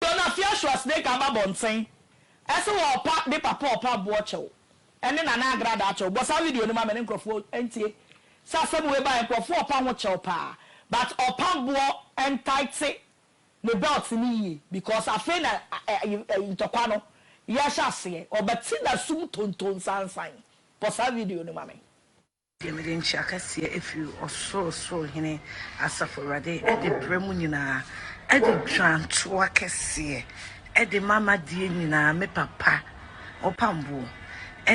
Donafia Schwarzenegger aba abɔnten se wɔ ɔpa de papa ɔpa aboɔ kyɛw ne Nana agradaa kyɛw bɔ saa video no ma me ne nkrɔfoɔ ntie sɛ asɛm wei baeɛ nkrɔfoɔ ɔpa ho kyɛw paa but ɔpa boɔ ntaete ne belt no yie because afei na ntɔkwa no yɛhyɛ aseɛ ɔba ti na sum tontonsansan bɔ saa video no ma me. Deɛ mede nkyea kɛseɛ afiri Ɔsorosoro Hene, Asafo Awurade, de brɛ mo nyinaa, de dwantoa kɛseɛ de ma m'adeɛ nyinaa, me papa ɔpamboɔ,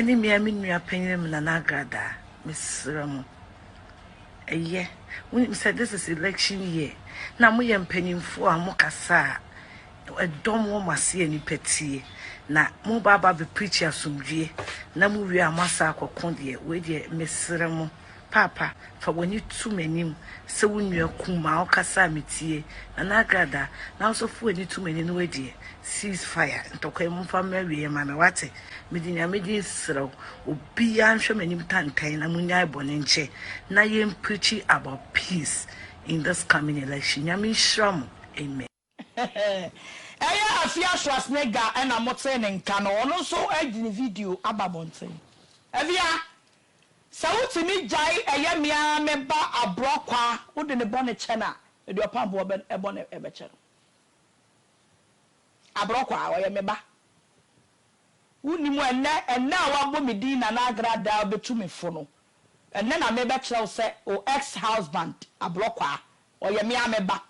ne me ara me nua panyinm Nana Agradaa, mesrɛ mo, ɛyɛ, wonim sɛ this is election year, na moyɛ mpanyimfoɔ a mokasa a, Dɔ mo wɔn ase yɛ nipa tie na mo ba aba bɛ preach asomdwie na mo wie a mo asa akɔ ko deɛ wei deɛ me srɛ mo paapa fa w'ani to m'anim sɛ wo nua kumaa ɔkasa a me tie Nana Agrada na nso fa w'ani to m'anim na wei deɛ cease fire ntɔkwa yi mo mfa mmerɛ wie yɛ ma me wate me de nyame din srɛ wo obi ya nhwɛ m'anim tantan na mo nyae bɔne nkyɛ na yɛn preachi about peace in this coming election nyame nhyira mo amen. Ɛyɛ Afia Schwarzenegger na motee ne nka no, ɔno nso de ne video aba abɔnten. Afia, sɛ wotumi gyae ɛyɛ me ara me ba aborɔkwa wode ne bɔne kyɛ no a, mede ɔpam bo bɔne bɛkyɛ no. Aborɔkwa, ɔyɛ me ba. Wonnim ɛnnɛ, ɛnnɛ a wɔabɔ me din Nana Agra Daa bɛtu me fo no, ɛnnɛ na mebɛkyerɛ wo sɛ o ex-husband, aborɔkwa, ɔyɛ me ara me ba.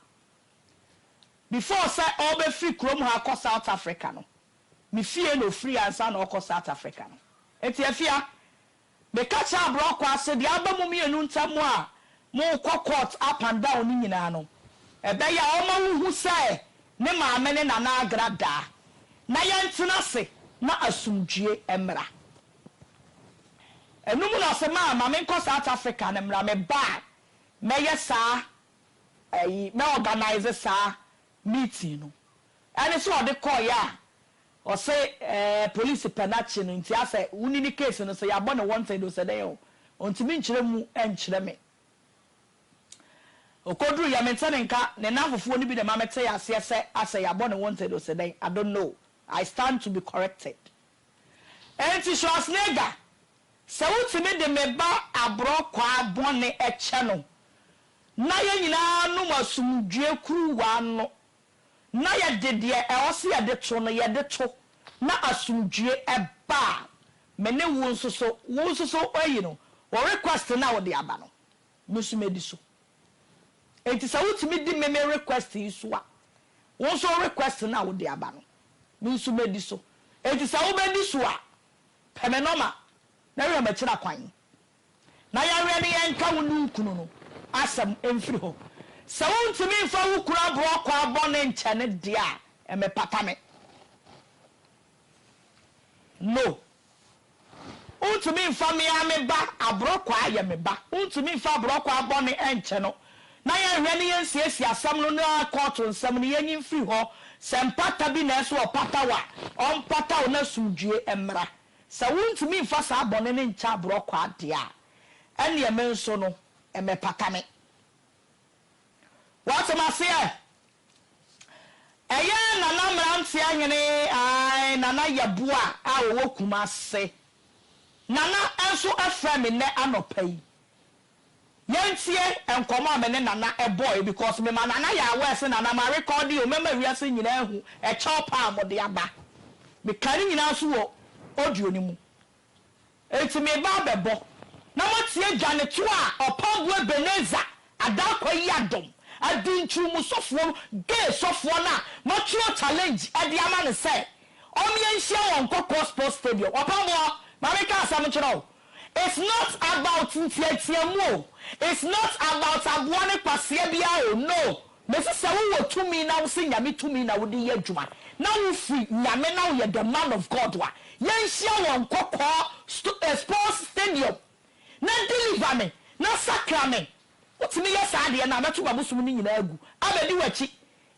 Before sɛ ɔbɛfiri kurom ha akɔ South Africa no, me fie na ɔfiri ansa na ɔrekɔ South Africa no. Enti Afia, meka kyerɛ Aborɔkwaa sɛ deɛ aba mo mmienu ntam a morekɔ court up and down no nyinaa no, ɛbɛyɛ a ɔma wohu sɛ ne maame ne Nana Agra da na yɛntena ase na asomdwoeɛ mmra. Ɛno mu na ɔse, Ma, ma menkɔ South Africa no mmra, meba a mɛyɛ saa ayi na organise saa meeting no ɛne sɛ ɔde kɔeɛ a ɔse ɛɛ police pɛ nakye no nti asɛ woni ne case no sɛ yabɔ ne wanted o sɛ dɛn o ontimi nkyerɛ mu nkyerɛ me okoduru yɛ mente ne nka ne namfofoɔ no bi na ɛma metee aseɛ sɛ asɛ yabɔ ne wanted o sɛ dɛn I don't know I stand to be corrected. Enti Schwarzenegger, sɛ wotumi de me ba aborɔkwaa bɔne kyɛ no na yɛn nyinaa nom asomdwoeɛ kuruwa no na yɛde deɛ ɛwɔ sɛ yɛde to no yɛde to na asomdwoeɛ ba a, me ne wo nso so, wo nso so, eyi no, wo request no a wode aba no. Me nso mɛdi so. Enti sɛ wotumi di me me request yi so a, wo nso request no a wode aba no, me nso mɛdi so. Enti sɛ wobɛdi so a, pɛ me nɔma na hwɛ makyira kwan na yɛnwɛn na yɛnka wo ne wo kunu no asɛm mfiri hɔ. Sɛ wontumi mfa wo kunu aborɔkwaa bɔne nkyɛ no deɛ a, ɛmmɛpata me. No. Wontumi mfa me ara me ba aborɔkwaa yɛ me ba. Wontumi mfa aborɔkwaa bɔne nkyɛ no. Na yɛnhwɛ ne yɛnsiesie asɛm no na kɔɔto nsɛm no yɛnyi mfiri hɔ. Sɛ mpata bi na ɛsɛ sɛ ɔpata wo a, ɔmpata wo na asomdwoe mmra. Sɛ wontumi mfa saa bɔne no nkyɛ aborɔkwaa deɛ a, ɛnneɛ me nso no, ɛmmɛpata me. Woate m'aseɛ? Ɛyɛ a na na mmeranteɛ hene, ae, Nana Yeboah a ɔwɔ Kumase, Nana nso frɛ me nnɛ anɔpa yi. Yɛntie nkɔmmɔ a me ne Nana bɔeɛ because mema Nana yɛ aware sɛ, Nana, marekɔɔde o, mɛma wiase nyinaa ahu ɛkyɛw pa a mode aba. Mekaa ne nyinaa nso wɔ audio no mu. Enti mereba abɛbɔ, na moatie dwanetoɔ a ɔpamboɔ Ebenezer Adaakwa yi adom adi nkyerɛwmusɔfoɔ no gay sɔfoɔ no a matwerɛ challenge de ama no sɛ ɔmmea nhyia wɔ Nkɔkɔɔ Sports Stadium. Ɔpamboɔ, ma menka asɛm nkyerɛ wo, it's not about nteateamu o, it's not about aboa ne kwasea biara o, no, Na ɛsɛ sɛ wo wɔ tumi na wo se Nyame tumi na wo de yɛ adwuma na wo firi Nyame na wo yɛ the man of God a yɛ nhyia wɔ nkɔkɔɔ sto eh sports stadium na deliver me na sakra me wo tumi yɛ saa adeɛ no a mɛto mabosom no nyinaa agu abɛdi wakyi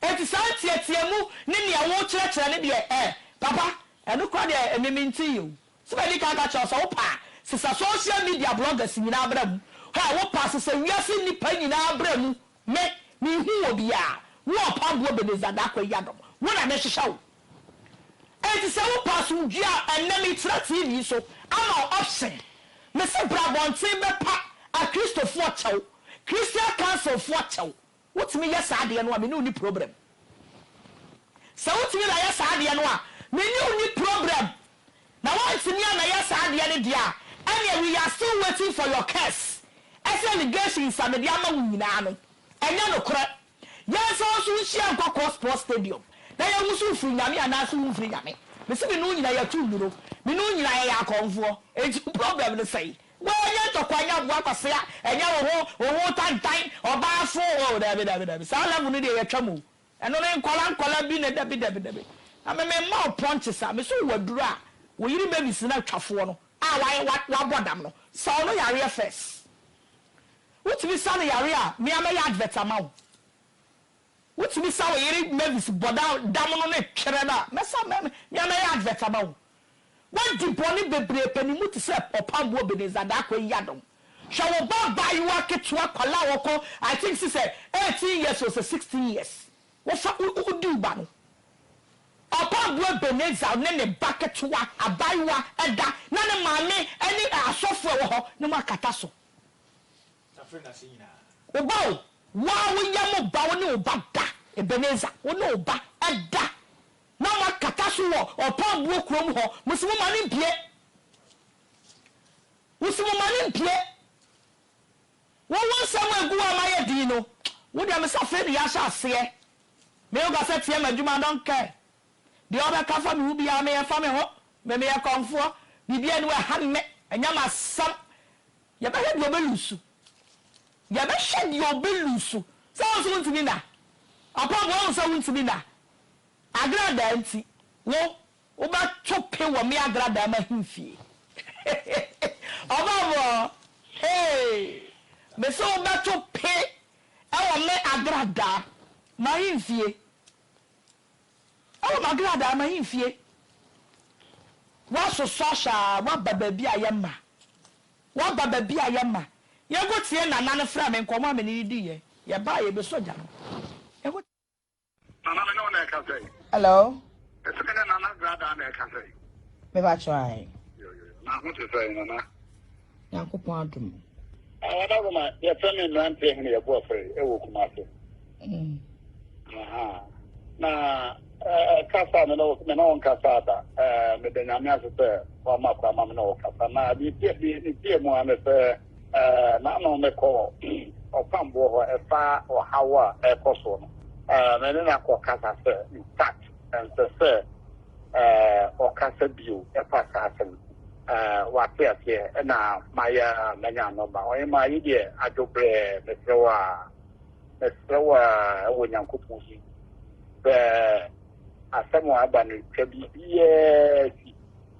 enti saa nteateamu ne nea wo kyerɛkyerɛ no deɛ eh papa ɛno koraa deɛ ɛme me nte yɛ o sɛ madi kan ka kyerɛ wo sɛ wo pɛ a sesa social media bloggers nyinaa bra mu hɛ wo pɛ a sesa wiase nnipa nyinaa bra mu Me, menhu wo biaa, wo a ɔpɛ aboɔ Benezada akɔ ayi adom, wo na mehwehwɛ wo. Enti sɛ wo pɛ asomdwie a, ɛnnɛ meretena TV so ama wo option. Me se bra abɔnten bɛpa Akristofoɔ kyɛw, Christian Council foɔ kyɛw. Wotumi yɛ saa adeɛ no a, me ne wo nni problem. Sɛ wotumi na yɛ saa adeɛ no a, me ne wo nni problem. na wantumi ammɛyɛ saa adeɛ no deɛ a, ɛnneɛ we are still waiting for your curse, ɛsɛ allegations a mede ama wo nyinaa no, ɛnyɛ nokorɛ. Yɛnsan nso nhyia nkɔ Kɔ Sports Stadium na yɛnhu sɛ wofiri Nyame anaase womfiri Nyame. Mese me ne wo nyinaa yɛto nnuro, me ne wo nyinaa yɛyɛ akɔmfoɔ, enti wo problem no sɛn? Wei ɛnyɛ ntɔkwa, ɛnyɛ aboa kwasea, ɛnyɛ wo ho wo ho tantan, ɔbaafo, oh daabi daabi daabi, saa level no deɛ yɛatwam o. Ɛno no nkwadaa nkwadaa bi na dabi dabi dabi na me me mma wo pɔnkye saa me so wo aduru a wo yere babies na twafoɔ no a wayɛ wa wabɔ dam no saw no yareɛ first wotumi sa no yareɛ a mea mɛyɛ advert ama wo wotumi sa wo yere mavis bɔ dam dam no ne twerɛ no a mɛsa mɛ mea mɛyɛ advert ama wo Woadi bɔne bebree pɛ ne mu te sɛ ɔpamboɔ Ebenezer Darko Yiadom. Hwɛ wo ba abaayewa ketewa akwadaa a ɔkɔ I think se sɛ eighteen years or sɛ sixteen years. Wofa wo wo di wo ba no. Ɔpamboɔ Ebenezer ne ne ba ketewa abaayewa da na ne maame ne asɔfoɔ a ɛwɔ hɔ ne mo akata so. Wo ba o, wo a woyɛ mo ba wo ne wo ba da Ebenezer wo ne wo ba da. Na makata so wɔ ɔpɔn boɔ kurom hɔ, mo se moma no mpue, wo se moma no mpue, wo wo nsɛm a egu hɔ a mayɛ din no, wo deɛ mese afei na yɛahyɛ aseɛ, me wo kasa tia m'adwuma I don't care, deɛ ɔbɛka fa me ho biara me ɛmfa me ho, me meyɛ kɔmfoɔ, biribiara nni hɔ a ɛha me, ɛnyɛ m'asɛm, yɛbɛhwɛ deɛ ɔbɛ luusu, yɛbɛhwɛ deɛ ɔbɛ luusu, sɛ wo nso wontumi nna, ɔpɔn boɔ wohu sɛ wontumi nna, Agradaa nti, wo, wobɛto pe wɔ me agradaa m'ahemfie. Ɔbaa mu ɔ! Hey! Mese wobɛto pe wɔ me agradaa m'ahemfie. Wɔ m'agradaa m'ahemfie. Woasosɔ ahwɛ a, woaba baabi a yɛmma. Woaba baabi a yɛmma. Yɛgo tie Nana no frɛ me nkɔmmɔ a me ne no diiɛ. Yɛbaeɛ, yɛbɛsɔ gya no. Yɛgo. Nana me ne wo na ɛka sɛ. Hello. Ɛsɛ me ne Nana Grada na ɛka sɛ. Meba try. Na ho te sɛ Nana. Nyankopɔn adom. Awada wo ma yɛfrɛ me mmeranteɛ hene yɛbɔ afrɛ ɛwɔ kuma ase. Mm. Na kasa me no me no nkasa da me da nyame ase sɛ wama kwa ma me no kasa na bi bi bi mu ane sɛ N'ano mekɔ ɔkwamboɔ hɔ ɛfa ɔhaw a ɛrekɔ soɔ no. Me ne no akɔ kasa sɛ in fact ɛnsɛ sɛ ɔkasa bio ɛfa saa asɛm no. Wate aseɛ ɛna mayɛ a manya number. Ɔhemaa yi deɛ adwo brɛɛ mesrɛ wo aa mesrɛ wo aa ɛwɔ Nyankopɔn din sɛ asɛm a aba no twa biribiara si.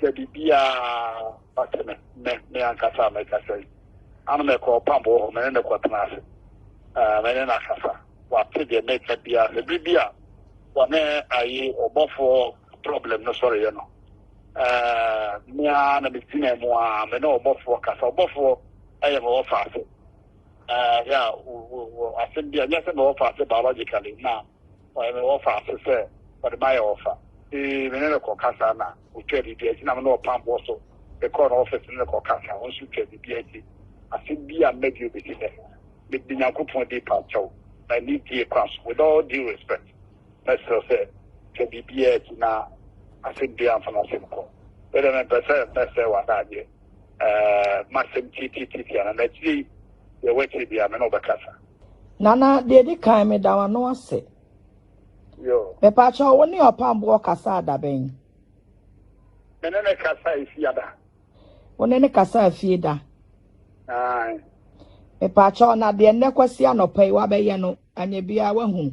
sɛ biribiara ba sɛ me, me, me ankasa a mɛkasa yi. Ano mɛkɔ ɔpambo hɔ, me ne no kɔtena ase. Uh, me ne no akasa. Wate deɛ mɛka biara. Sɛ bere bi a wɔne ayi ɔbɔfoɔ problem no sɔreyɛ no, uh, mea na megyina mu a me ne ɔbɔfoɔ kasa. Ɔbɔfoɔ ɛyɛ me wɔfa ase. Uh, yeah, asɛm bi a nyɛ sɛ me wɔfa ase biologically na Ɔyɛ me wɔfa so sɛ ɔde m'ayɛ wɔfa. Ee, me ne no kɔkasa na otwaa biribi akyi. Na me ne ɔpam boɔ so de kɔɔ n'ɔfese ne no kɔkasa. Ɔno nso twaa biribi akyi. Asɛm bi a mma bio bɛsi nnɛ. Mede Nyankopɔn din pa kyɛ wo, na anidie kwan so, with all due respect, mɛsrɛ wo sɛ twa biribiara akyi na asɛm biara mfa m'asɛm kɔ. Me deɛ mempɛ sɛ mɛsɛe w'adagyeɛ. Ɛɛ, m'asɛm tiatiatiatia. Na akyire yi, deɛ ɛwɔ akyire biara, me ne wo bɛkasa. Nana, deɛ ɛdi kan meda w'ano ase. Mepaakyɛ wo ne ɔpamboɔ kasa adabɛn. Me ne ne kasa efie ada. Wo ne ne kasa efie da. Mepaakyɛ na deɛ nnɛ kwasi anɔpa yi wabɛyɛ no anyɛ biara wahunu.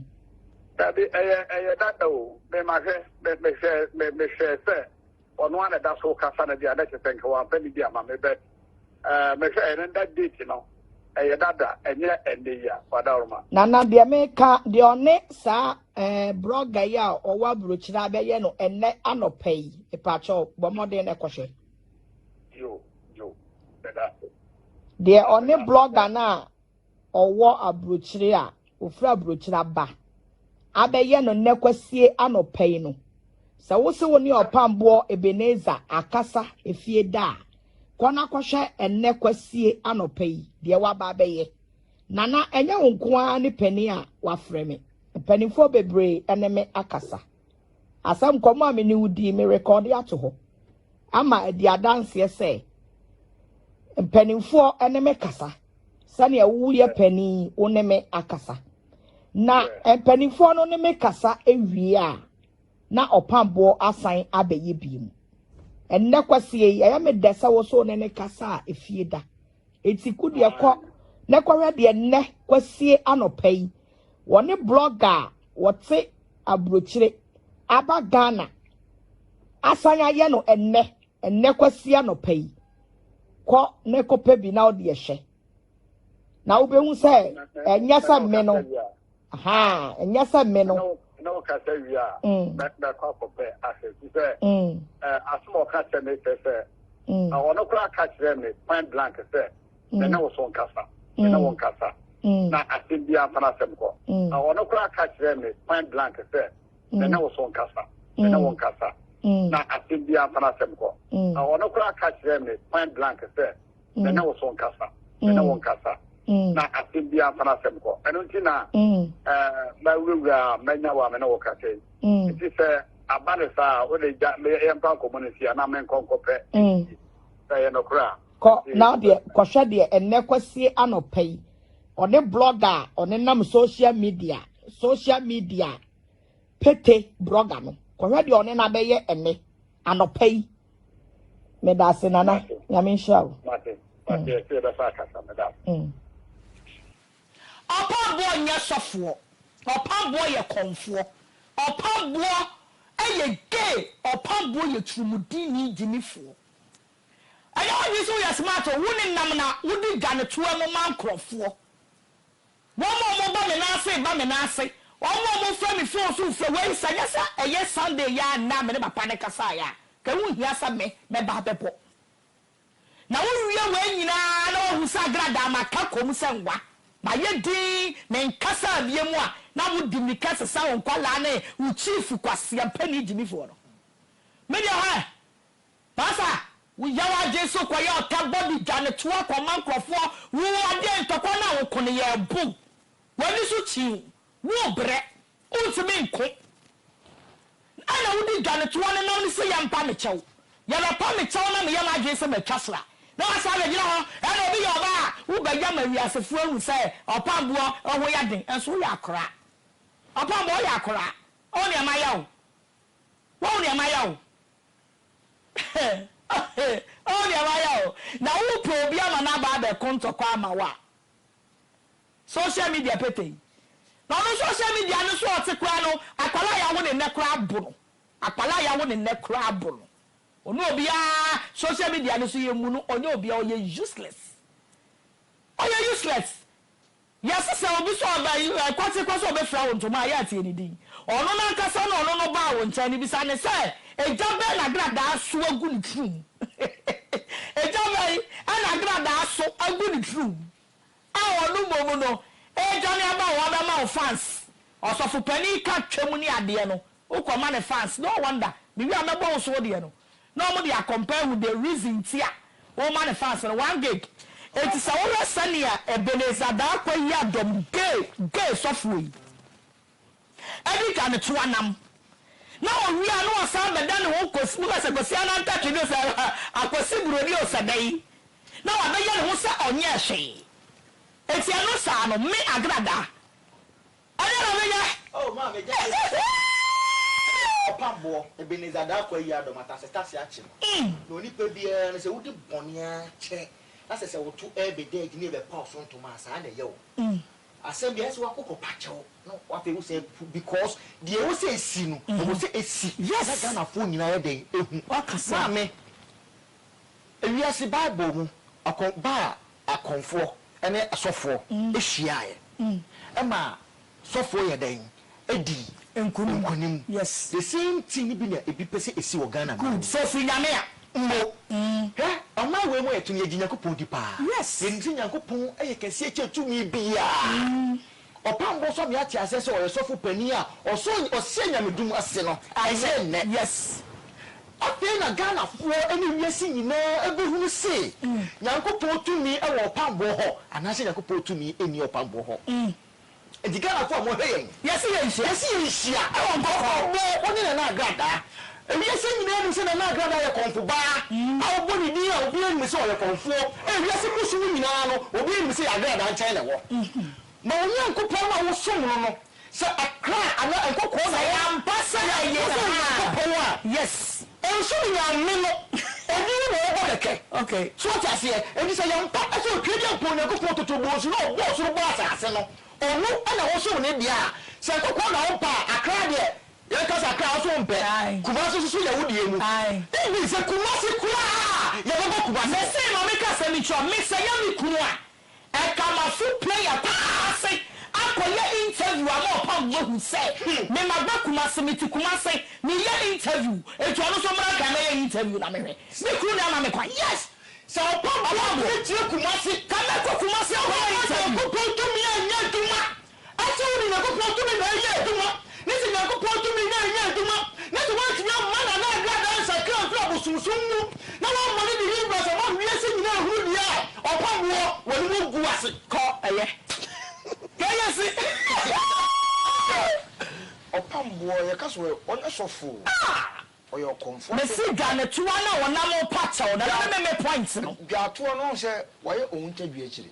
Dabi ɛyɛ ɛyɛ dada o. Mema hwɛ mehwɛ mehwɛ sɛ Ɔno ara na ɛda so kasa no deɛ na kyerɛ sɛ nka wamfa ne bi ama me but eh, mehwɛ ɛno da date no ɛyɛ dada ɛnyɛ ɛnɛ yi a wadaworoma. Nana deɛ meka deɛ ɔne saa eh, brɔga yi a ɔwɔ aburokyire abɛyɛ no ɛnɛ anɔpa yi mepakyɛ bɔ mmɔden na ɛkɔhwɛ yo yo ɛda deɛ ɔne blɔga no a ɔwɔ aburokyire a ɔfiri aburokyire aba abɛyɛ no nnɛ kwasie anɔpa yi no, sɛ wo se wo ne ɔpamboɔ Ebenezer akasa efie da a, kɔ na kɔhwɛ ɛnnɛ kwasie anɔpa yi deɛ waba abɛyɛ. Nana, ɛnyɛ wo nko ara ne panin a wafrɛ me. Mpanimfoɔ bebree ne me akasa. Asɛm nkɔmmɔ a me ne wo dii, merekɔde ato hɔ ama adi adanseɛ sɛ mpanimfoɔ ne me kasa sɛdeɛ woyɛ panin wo ne me akasa. Na mpanimfoɔ no ne me kasa awie a, na ɔpamboɔ asan abɛyɛ bi mu. Ɛnnɛ kwasie yi, ɛyɛ me dɛ sɛ wo so ne ne kasa a efie da. Enti ko deɛ kɔ na kɔhwɛ deɛ nnɛ kwasie anɔpa yi wɔne blogger a wɔte aburokyire aba Ghana asan ayɛ no ɛnnɛ ɛnnɛ kwasie anɔpa yi. Kɔ na kɔpɛ bi na wo deɛ hwɛ. Na wobɛhu sɛ ɛnyɛ sɛ mme no. Ahaa, nyɛ sɛ me no. Na ɔkasa wie a, mɛkɔ akɔpɛ asɛ ti sɛ asɛm a ɔka kyerɛ me kyerɛ sɛ na ɔno koraa ka kyerɛ me point blank sɛ me ne wo so nkasa, me ne wo nkasa na asɛm biara mfa n'asɛm kɔ. Na ɔno koraa ka kyerɛ me point blank sɛ me ne wo so nkasa, me ne wo nkasa na asɛm biara mfa n'asɛm kɔ. Na ɔno koraa ka kyerɛ me point blank sɛ na ɛnyɛ wo so nkasa, ɛnyɛ wo nkasa, na asɛm biara mfa n'asɛm kɔ. Ɛno nti na mawurawura a manya wɔ a me ne wo kasa yi. Nti sɛ aba ne saa a, wode gya yɛmpa nkɔmmɔ no si anaa menkɔ nkɔpɛ sɛ ɛyɛ nokorɛ a. Kɔ na deɛ kɔhwɛ deɛ ɛnnɛ kwasie anɔpa yi ɔne blɔga a ɔne nam social media social media pete blɔga no kɔhwɛ deɛ ɔne no abɛyɛ ɛnnɛ anɔpa yi. meda ase nana nyame nhyira wo ɔpa boɔ nyɛ sɔfoɔ ɔpa boɔ yɛ kɔnfoɔ ɔpa boɔ ɛyɛ gay ɔpa boɔ yɛ turumudini gyimifoɔ ɛnɛ wodwe sɛ woyɛ smart o wo ne nam na wode dwane toa mu ma nkurɔfoɔ Wɔn a wɔba me nan ase ba me nan ase, wɔn a wɔfrɛ me fon so frɛ wei, sɛ nyɛ sɛ ɛyɛ Sunday yi ara nnɛ a me ne papa no kasaeɛ a, nka ɛho nhia sɛ me mɛba ha bɛbɔ. Na wowie wei nyinaa na woahu sɛ agradaa maka kɔ mu sɛ nwa, mayɛ dinn, menkasaa biom a, na wode mmirika sesa wo nkwadaa ne wo chief kwaseampani gyimifoɔ no. Me deɛ hwɛ! Pasa, wo yaw adwen so kɔ yɛ ɔta bɔ de dwa no toa kɔ ma nkorɔfoɔ wo adeɛ ntɔkwa no a wo ko no yɛ bo wo ani so kyiiw wo brɛ wo ntumi nko na na wo di dwa no toa no nam no se yɛ mpa me kyɛw yɛ mɛ pa me kyɛw na me yɛ m'adwen sɛ ma twa sra na wa san bɛ gyina hɔ ɛna obi yɛ ɔbaa a wo bɛ ya ma wiasefoɔ ahu sɛ ɔpam boɔ ho yɛ den nso wo yɛ akoraa ɔpam boɔ yɛ akoraa wo hu nea ma yɛ wo wo hu nea ma yɛ wo. Heh oh deɛ wayɛ oh Na wo pɛ obi ama no aba abɛ ko ntɔkwa ama wo a Social media pete yi Na ɔno social media no so ɔte koraa no Akwadaa a yawo no nnɛ koraa abo no Akwadaa a yawo no nnɛ koraa abo no Ɔne obiara social media no so yɛ mmu no Ɔnyɛ obiara ɔyɛ useless Ɔyɛ useless Yɛsesɛ obi sɛ ɔba kwaterekwa sɛ ɔbɛfira wo ntoma a, yɛ a tie ne din. Ɔno no ankasa na ɔno no baa wo nkyɛn no, bisa no sɛ, Egya bɛn na agradaa so agu ne tirim? Egya bɛn na agradaa so agu ne tirim? A ɔno mmom no redwane aba a wabɛma wo fans, ɔsɔfo panin ka Twam ne adeɛ no, wokɔma no fans, no wonder, mewie a mɛbɔ wo so wo deɛ no. na wɔde akɔmpae ahu the reason nti a wɔma no fans no one gig enti sɛ wohwɛ sɛnea Ebenezer Darko yi adɔm gay gay sɔfoɔ yi adi kan toa nam na ɔwie a na ɔsan bɛda ne ho kɔsi mu ka sɛ Kwasi Anantakye bi o sɛ Akwasi Buroni o sɛ dɛn na wabɛyɛ ne ho sɛ ɔnyɛɛ hwee enti ɛno saa no me Agrada Ɛdeɛn na menyɛ? Oh maa me gya bɛsi sɛ Eeii! Ɔpam boɔ, Ebenezer Darko ayi adom atase tase akye no Na onipa biara no sɛ wodi bɔne ara kyɛ Na sɛ sɛ woto ɛɛbɛ dɛɛgye ne ɛbɛ paw so ntoma a saa na ɛyɛ wo Asɛm bi ayɛ sɛ wako kɔ pa kyɛw na afei wo san pu Because deɛ ɛwɔ sɛ ɛsi no ɛwɔ sɛ ɛsi Na Ghanafoɔ nyinaa ayɛ dɛn ɛhu Maa me. Wiase Bible mu ɔko ba a akɔmfoɔ ne asɔfoɔ hyiaeɛ maa sɔfoɔ yɛɛ dɛn? Dii nkonim. The same thing no bi na ebi pɛ sɛ esi wɔ Ghana man mu. Sɛ fi Nyame a mmo. Hwɛ ɔman wei mu yɛtum yɛgye Nyankopɔn di paa. Yɛnim sɛ Nyankopɔn yɛ kɛseɛ kyɛn tumi biaa. Ɔpam bo sɔ me ate aseɛ sɛ ɔyɛ sɔfo panin a ɔsɔ ɔseɛ nyamedum ase no ɛnyɛ nnɛ. Yes. Afei na Ghanafoɔ ne wiase nyinaa bɛhunu se Nyankopɔn tumi wɔ ɔpam boɔ hɔ anaasɛ Nyankopɔn tumi nni ɔpam boɔ hɔ. Nti Ghanafoɔ a mo hwɛ yɛn. Yɛse yɛnhyia. Yɛse yɛnhyia. Ɛwɔ nkɔkɔɔ. Ɛwɔ nkɔkɔɔ. Wo ne Nana Agradaa. Ewiase nyinaa nim sɛ Nana Agrada yɛ kɔmfobaa a ɔbɔ ne din a obiara nim sɛ ɔyɛ kɔmfoɔ. Ewiase mmusu mu nyinaa no, obiara nim sɛ yɛ Agrada nkyɛn na ɛwɔ. Ma wo Nyankopɔn no a wosom no no, sɛ akra anaa nkɔkɔɔ na wɔ, sɛ yɛ Nyankopɔn a, nso ne Nyame no, ɔno na ɔbɔ kɛkɛ. So wote aseɛ? Enti sɛ yɛ mpa sɛ Otwedeɛnpɔn Nyankopɔn totobɔɔ su na ɔbɔɔ soro bɔɔ asase no, ɔno na wosom ne deɛ a, sɛ nkɔkɔɔ na wompa a, akra deɛ, Yɛn kasa koraa so mpɛ. Kumasi nso so yɛ wo deɛ mu. Even sɛ Kumasi koraa a yɛbɛbɔ Kumasi. Me se ma me ka asɛm bi nkyerɛ wo me sɛ yɛ me kunu a ɛka ma so player paa ase akɔ yɛ interview ama ɔpam mu ahu sɛ me ma ba Kumasi me te Kumasi me yɛ interview enti ɔno nso mmra nka mɛ yɛ interview na me hwɛ me kunu na ama me kwan yes sɛ ɔpam boa me tie Kumasi ka mɛ kɔ Kumasi akɔ yɛ interview. Ɔma Nyankopɔn tumi anyɛ adwuma Ɛnkyɛ wode Nyankopɔn tumi na ɛyɛ adwuma, na sɛ Nyankopɔn tumi na ɛnyɛ adwuma, na sɛ woantumi amma Nana Agradaa ansakra amfiri abosomsom mu, na woammɔ no de ne wura sɛ ma wiase nyinaa nhunu deɛ a ɔpa boɔ wɔ ne mu gu ase. Kɔ ɛyɛ. Kɔ ɛyɛ se. Hwɛ, ɔpam boɔ, yɛka so ɛ, ɔnyɛ sɔfo o, ɔyɛ ɔkɔmfoɔ nso. Mese dwanetoa no a ɔnam repa kyɛw, Nana ne me me point no. Dwaatoa no, woahu sɛ wayɛ ɔhuntadua akyire.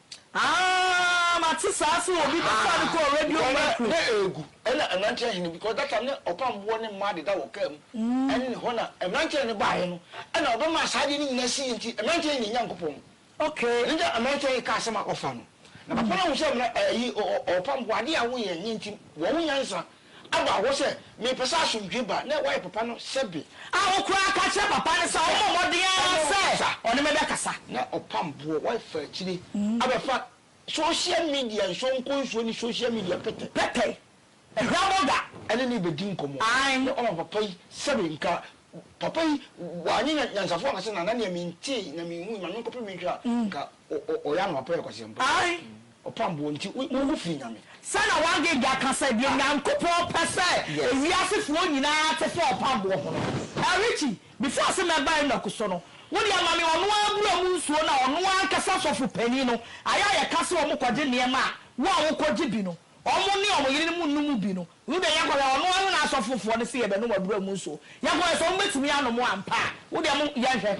Aah mate saa se obi bɛfaa no kɔɔ radio mu a. Ná ɛregu ɛna mmeranteɛ hene because that time na ɔpam boɔ ne mmaa deda wɔ car mu ɛne ne hɔ na mmeranteɛ hene baeɛ no ɛna ɔbɛmaa saa adeɛ no nyinaa siiɛ nti mmeranteɛ hene Nyankopɔn no Okay. Ɛno nti mmeranteɛ hene kaa asɛm a ɔfa no na papa no ahu sɛ mmera ɛyi ɔpam boɔ adeɛ a woyɛ nyɛ nti wɔwo nyansa abɔ ahoɔ sɛ, Mepɛ sɛ asomdwoe ba. Ná wayɛ papa no sɛbe. A Ɔkoraa ka kyerɛɛ papa no sɛ ɔmmɔ mmɔden ara sɛ ɔne me bɛkasa. Ná ɔpam boɔ, wafa akyire abɛfa sohyia midia nsuo nkɔnsuo ne sohyia midia pɛtɛ. Pɛtɛ. Hwɛbɔ da. Ɛne no rebɛdi nkɔmmɔ. Ae. Ná ɔma papa yi sɛbe nka. Papa yi, wanyɛ nyansafo ankasa na na nea mentee na menhui, ma menkɔpem nhwɛ a, anka Ɔyɛ anwapɛ yɛ kwaseɛmpa. Ae. Ɔpam boɔ nti wo ho firi Nyame. Sɛdeɛ Wangenga ka sɛ deɛ Nyankopɔn pɛ sɛ ewiase foɔ nyinaa te fa ɔpam boɔ ho no. Ɛɛ Richie, before ɔse mɛba Enoch so no, wo deɛ ma me ɔno ara bura mu nsuo na ɔno ara ankasa sɔfo panin no, ayɛ a yɛka sɛ wɔn kɔgye nneɛma a, wo a wokɔ gye bi no, wɔn ne wɔn yerenom nnu mu bi no, wo deɛ yɛkɔhwɛ ɔno ara ne n'asɔfo foɔ no se yɛbɛnom abura mu nsuo, yɛkɔhwɛ sɛ wɔn bɛtumi anom ampa a, wo deɛ mo, yɛnhwɛ.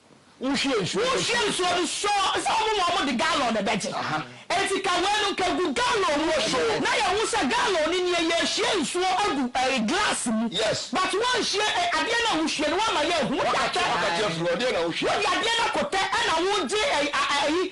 Wohwie nsuo no sɔ. Wohwie nsuo no sɔ. Sɛ wɔn ma wɔn de gallon na ɛbɛgye. Eti ka wei no nka gu gallon mu na yɛ hu sɛ gallon no nie yɛ hwie nsuo agu ɛɛ glass mu. Yes. But wɔn hwie ɛ adeɛ na wohwie no wɔn ma yɛ hu. Wode atɛ. Wode adeɛ na wohwie. Wode adeɛ no akɔtɛ ɛna wogye ɛyi a ɛyi.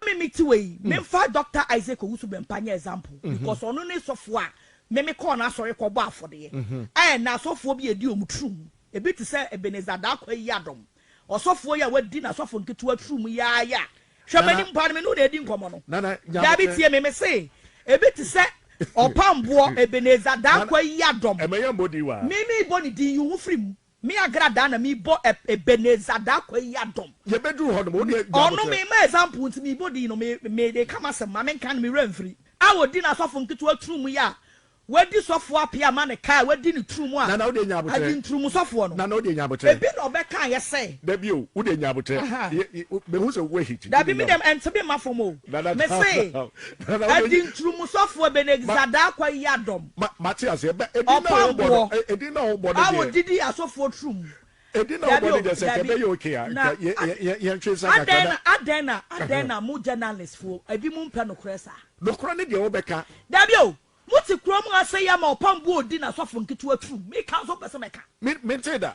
Ma me me ti wei me nfa Doctor Isaac Owusu Bempah nyɛ example because ɔno ne sɔfoɔ a me me kɔɔ n'asɔre kɔ bɔ afɔdeɛ ɛɛ na asɔfoɔ bi edi wɔn turum ebi te sɛ Ebenezer Darkwah yi adom ɔsɔfoɔ yi a wadi n'asɔfo nketewa turum yi ara yi a hwɛ m'anim paa no me ne wo na edi nkɔmɔ no daabi tie me me se ebi te sɛ Ɔpamboɔ Ebenezer Darkwah yi adom me me bɔ ne din yi wo ho firi mu. Me Agra daa na me bɔ Ebenezer daa kwa yi adom. Yɛ bɛ duru hɔ nom, wo deɛ gya abotire. Ɔno me ma example nti me bɔ din no, me me de ka m'asɛm, ma me nka no me werɛ mfiri. A ɔdi n'asɔfo nketewa turo mu yɛ a, w'adi sɔfoɔ ape ama no ka a w'adi ne turo mu a, Nana wo deɛ nya abotire. Agye nturo mu sɔfoɔ no. Nana wo deɛ nya abotire. Ebi na ɔbɛ ka ayɛ sɛ. Dabi o, wo deɛ nya abotire. Aha. Yɛ, yɛ, me hu sɛ w'ahi ti. Dabi me deɛ ɛnte me mma fam o. Nana calm down. Me se, Ɛdi nturumusɔfoɔ Benegzadaakwa yi adɔm, ɔpaboɔ, a wɔdidi asɔfoɔ turo mu. Dabi o, dabi, na adɛn na, adɛn na, adɛn na mo gyɛnalistfoɔ, ebinom mpɛ nokorɛ saa? Dabi o, mote kurom ha sɛ yi ama ɔpamboɔ ɔdi n'asɔfo nketewa turo mu. Meka nso mpɛ sɛ mɛka.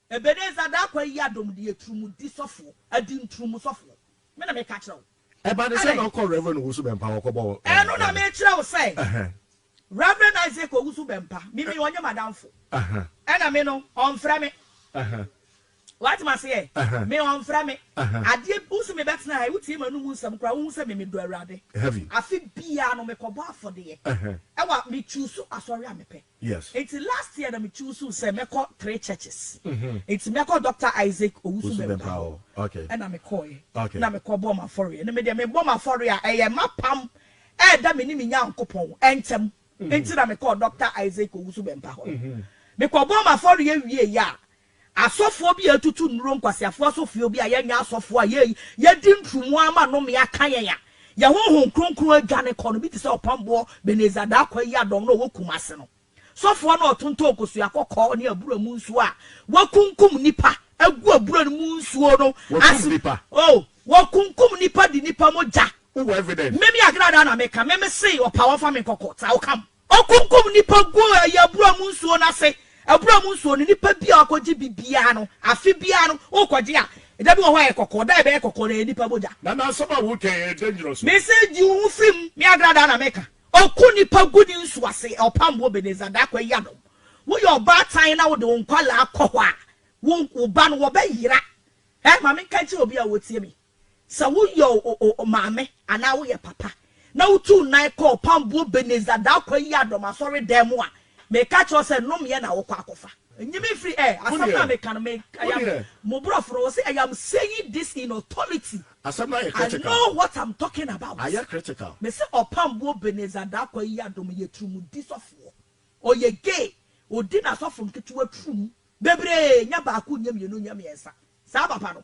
Ebenezer Darko ayi adom de yɛ turumudi sɔfo, adinturumu sɔfo. Me na meka kyerɛ wo. Ɛba ne sɛ na ɔkɔ Rev. Owusu Bɛmpa hɔ kɔbɔ mpae. Ɛno na mekyerɛ wo sɛ Rev. Isaac Owusu Bɛmpa, me me ɔnyɛ m'adamfo. Ɛna me no, ɔmfrɛ me. Woate m'aseɛ? Me ɔmfrɛ me. Adeɛ, wohu sɛ mebɛtena ha yi, wotie m'anom nsɛm koraa, wohu sɛ me medɔ Awurade. Afe biara no, mekɔbɔ afɔdeɛ wɔ, me choose asɔre a mepɛ. Yes. Nti last year na me choosuu sɛ mɛkɔ three churches. Nti mɛkɔ Doctor Isaac Owusu-Bempah hɔ. Ɛna me kɔɔɛ. Na me kɔ bɔɔ m'afɔreɛ. Na me deɛ me bɔ m'afɔreɛ a, ɛyɛ m'apam ɛɛda me ne me Nyankopɔn ɛntɛm. Nti na me kɔɔ Doctor Isaac Owusu-Bempah hɔ no. Me kɔ bɔɔ m'afɔreɛ wieeɛ a, Asɔfoɔ bi a yɛtutu nnuro nkwaseafoɔ asɔfio bi a yɛnyɛ asɔfoɔ a yei yɛdi nturumu ara ma nnome aka yɛn a yɛn honhom kronkron adwane kɔ no bi te sɛ ɔpamboɔ Benezer Darkwah Yiadom no a ɔwɔ Kumase no sɔfoɔ no a ɔtontɔn kosua kɔkɔɔ ne abura mu nsuo a wakunkum nnipa agu abura no mu nsuo no ase oh wɔkunkum nnipa de nnipa mogya Wowɔ evidence? Meme Agradaa na meka, meme se ɔpaa wɔmfa me nkɔ court a wokam. Ɔkunkum nnipa guu ɛyɛ abura mu nsuo no ase. Abura mu nsuo no, nnipa biara ɔkɔgye bi biara no, afe biara no, wokɔgye a, da bi wɔ hɔ a ɛyɛ kɔkɔɔ, da a ɛbɛyɛ kɔkɔɔ no, ɛyɛ nnipa mogya. Na n'asɛm a wotwɛn yɛ dangerous o. Mese gye wo ho firi mu, me Agradaa na meka. Ɔku nnipa gu ne nsuo ase, ɔpam wo Ebenezer Darko Ayiadom. Woyɛ ɔbaatan na wode wo nkwadaa kɔ hɔ a, wo wo ba no wɔbɛyera. Ɛ, ma menka nkyerɛ obi a ɔretie me. Sɛ woyɛ maame anaa woyɛ papa na wutuu nan kɔɔ Ɔpamboɔ Ebenezer Darkwah Yiadom asɔredan mu a, meka kyerɛ wo sɛ nnommeɛ na wokɔ akɔfa. Nyi me mfiri ɛ! Asɛm no a meka no, me, I am, mo borɔfo no, wɔse I am saying this in authority. Asɛm no ayɛ critical. I know what I'm talking about. Ayɛ critical. Mese Ɔpamboɔ Ebenezer Darkwah Yiadom yɛ turumudi sɔfoɔ. Ɔyɛ gay. Ɔdi n'asɔfo nketewa turum. Bebree, nyɛ baako, nyɛ mmienu, nyɛ mmiɛnsa. Saa papa no.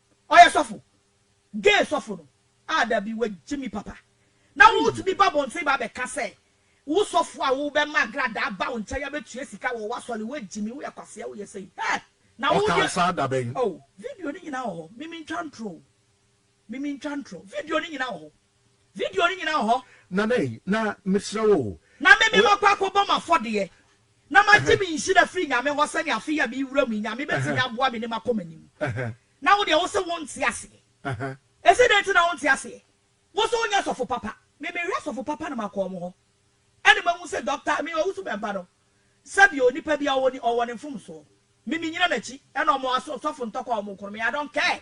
Ɔyɛ sɔfo, gay sɔfo no a dabi wagye me papa. Na wotumi ba abɔnten ba abɛka sɛ wo sɔfo a wobɛma agradaa aba wo nkyɛn abɛtua sika wɔ w'asɔre, wagye me, woyɛ kwasea, woyɛ sei. Hɛ! Na wo deɛ. Ɔkaa saa da bɛn? Oh, video no nyinaa wɔ hɔ. Me mentwa ntorɔ o. Me mentwa ntorɔ. Video no nyinaa wɔ hɔ. Video no nyinaa wɔ hɔ. Nana ei, na mesrɛ wo o. Na me memakɔ akɔbɔ m'afɔdeɛ na magye me nhyira firi Nyame hɔ sɛdeɛ afe yi a merewiram yi Nyame bɛtumi aboa me ne makɔ m'anim. Na wodeɛ wose wonte aseɛ. Ɛse dɛn nti na wonte aseɛ? Wose wonyɛ sɔfo papa. Me mehwɛ sɔfo papa na makɔ wɔn hɔ ɛna mahu sɛ Doctor me Owusu Bɛmpa no sɛdeɛ onipa biara ɔwɔ ni ɔwɔ ne mfomsoɔ. Me menyina n'akyi ɛna wɔn asɔfo ntɔkwa a wɔkɔ no me I don't care.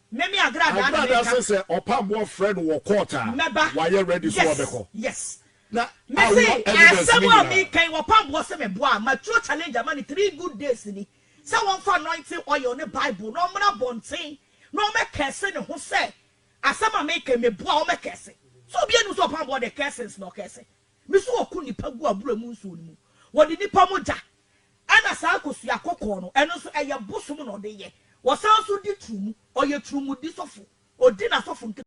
Meme agradaa na meka. Agradaa se sɛ ɔpamboɔ frɛ no wɔ court a, wayɛ ready so ɔbɛkɔ. Yes, yes. Na awo evidence ne nyinaa. Asɛm a meka yi, ɔpamboɔ se meboa a, matuo challenge ama no three good days ni, sɛ wɔmfa anointing oil ne Bible na ɔmmra abɔnten na ɔmmɛ curse ne ho sɛ asɛm a meka yi meboa a, ɔmmɛ curse. So obiara nim sɛ ɔpamboɔ de cursings na ɔcurse. Mese wɔko nnipa gu abura mu nsuo no mu, wɔde nnipa mogya Ɛna saa kosua kɔkɔɔ no, ɛno nso ɛyɛ bosom na ɔde yɛ. Wɔsan nso di turumu, ɔyɛ turumudi sɔfo, ɔdi n'asɔfo nketewa.